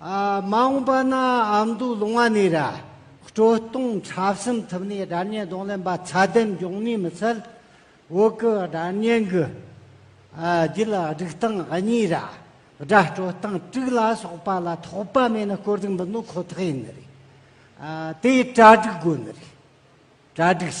མ་འོངས་པ་ན་ཨ་མདོའི་ལུང་བ་ནས་ར་སྤྲོད་གཏོང་འཁྲབ་གསུམ་ཐུབ་ནས་སྒྲ་སྙན་གདོང་ལེན་པ་ཚད་ལྡན་འབྱུང་ནུས་མི་སྲིད། འོག་གི་སྒྲ་སྙན་གྱི་རྒྱུད་ལ་སྒྲིག་སྟངས་གཉིས་ར་སྒྲ་སྤྲོད་སྟངས་དྲུག་ལ་སོགས་པ་ལ་དོགས་པ་མེད་ན་བཀོད་སྒྲིག་འབུལ་ནོ་ཁོ་ཐག་ཡིན་ནི་རེད། དེ་གྲ་སྒྲིག་དགོས་ནི་རེད། གྲ་སྒྲིག་བྱས།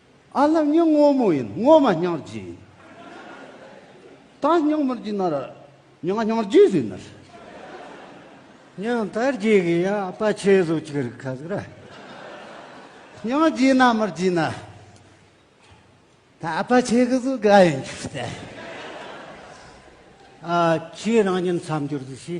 ཨ་ལྷ་སྙིང་སྔོ་མོ་ཡིན་སྔོ་མ་སྙིང་རྗེ་ཡིན། ད་སྙིང་མི་རྗེ་ནར་སྙིང་སྙིང་རྗེ་ཟིག་ནར། སྙིང་དར་རྗེ་གི་ཡང་ཨ་ཕ་ཆེ་ཟོ་ཅིག་རིག་ཁ་ཟིག་ར། སྙིང་རྗེ་ན་མི་རྗེ་ན། ད་ཨ་ཕ་ཆེ་གི་ཟོ་དགའ་ཡིན་ཅིག་ཟེར། ཨ་ཁྱེད་རང་ཉིད་མཚམས་སྦྱོར་ཟིག་ཤི།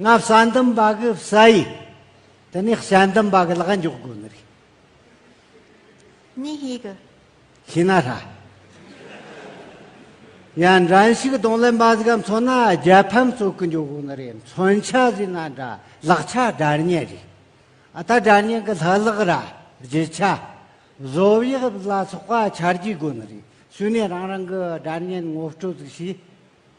ང་བྱ་འདུམ་པ་གི་བྱ་ཡིས་དེ་ནས་བྱ་འདུམ་པ་གི་ལག་འཇོག་དགོས་ནི་རེད། གཉིས་ཤིག། ཤི་ན་ཧྲ། ཡང་འགྲན་ཞིག་གདོང་ལེན་པ་ཟིག་མཚོན་ན་རྒྱལ་ཕམ་གཙོ་གི་འཇོག་དགོས་ནི་རེད་མཚོན་ཆ་ཟིག་ན་འདྲ་ལག་ཆ་དགྲར་ཉེ་རེད། ཨ་ད་དགྲར་ཉེ་གི་ལྷག་ལག་ར་བརྗིད་ཆ། བཟོ་དབྱིབས་ལ་སོགས་པ་འཆར་རྒྱུ་དགོས་ནི་རེད་བྱུས་ནས་རང་རང་གི་དགྲར་ཉེ་ངོ་སྤྲོད་ཟིག་བྱས།